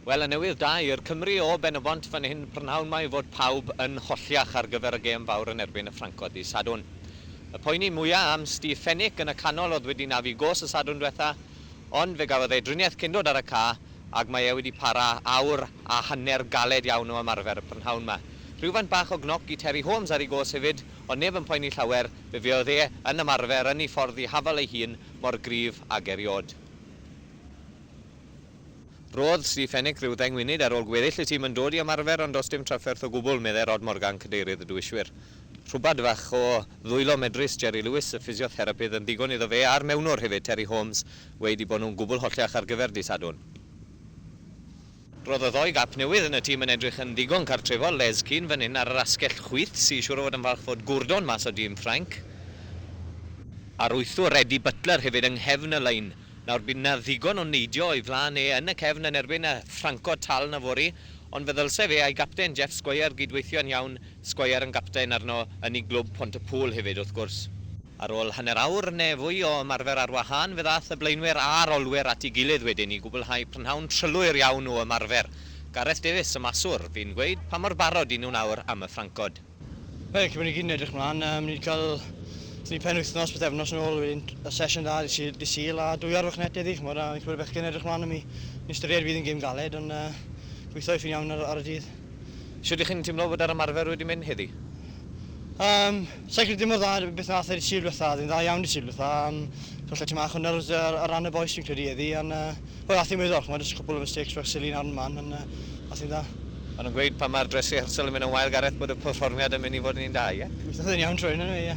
Wel, y newydd da i'r Cymry o Ben-y-bont fan hyn prynhawn 'ma yw fod pawb yn holliach ar gyfer y gêm fawr yn erbyn y Ffrancod ddydd Sadwrn. Y poeni mwya' am Steve Fenwick yn y canol o'dd wedi nafu gôs y Sadwrn dwetha, ond fe gafodd e driniaeth cyn dod ar y ca, ag mae e wedi para awr a hanner galed iawn o ymarfer y prynhawn 'ma. Rhywfaint bach o gnoc i Terry Holmes ar ei gôs hefyd, ond neb yn poeni llawer, fe fuodd e yn ymarfer yn ei ffordd ddihafaol ei hun, mor gryf ag eriôd. Roedd Steve Fenech ryw ddeng munud ar ôl gweddill y tîm yn dod i ymarfer ond does dim trafferth o gwbl, meddai Rod Morgan, cadeirydd y duwiswyr. Rhywbad fach o ddwylo medrus Jerry Lewis, y ffisiotherapydd, yn ddigon iddo fe a'r mewnwr hefyd, Terry Holmes, weud i bod nhw'n gwbl holliach ar gyfer dydd Sadwrn. Roedd y ddou gap newydd yn y tîm yn edrych yn ddigon cartrefol, Les Keane fan hyn ar yr asgell chwith sy siŵr o fod yn falch fod Gourdon mas o dîm Ffrainc. Aruthrwr Eddie Butler hefyd yng nghefn y lein. Nawr, bydd 'na ddigon o neidio o'i flaen e yn y cefn yn erbyn y Ffranco tal yfory, ond fe ddylse fe a'i gapten Jeff Squire gyd-weithio'n iawn Squire yn gapten arno yn i glwb Pont-y-pŵl hefyd wrth gwrs. Ar ôl hanner awr neu fwy o ymarfer ar wahân fe ddaeth y blaenwyr a'r olwyr at ei gilydd wedyn i gwblhau prynhawn trylwyr iawn o ymarfer. Gareth Davies, y maswr, fu'n gweud pa mor barod i nhw nawr am y ffrancod. Wel, cyn bo ni gyd yn edrych mlan, yy, ni 'di ca'l, so ni penwythnos, pythefnos yn ôl wedyn, yy, sesiwn dda ddydd Sul, dydd Sul a dwy arfwch net heddi ch'mod a fi'n credu bod y bechgyn yn edrych mlan am 'i, yn ystyried fydd yn gêm galed ond yy, gwitho eifyn iawn ar y, ar y dydd. Shwt y'ch chi'n timlo fod yr ymarfer wedi mynd heddi? Yym, sai'n credu mor dda â beth wnaeth e Sul dwetha, oedd e'n dda iawn Sul dwetha, yym, so falle timau chwynna ar ar ran y bois fi'n credu heddi ond yy, wel ath hi'n weddol chimod, jyst cwpwl o mistakes bach silly nawr and man ond yy, ath hi'n dda. O'n nhw'n gweud pan mae'r dress rehearsal yn mynd yn wael Gareth bod y perfformiad yn mynd i fod yn un da, ie? Gobeithio oedd e'n iawn trwy hyn eniwe, ie.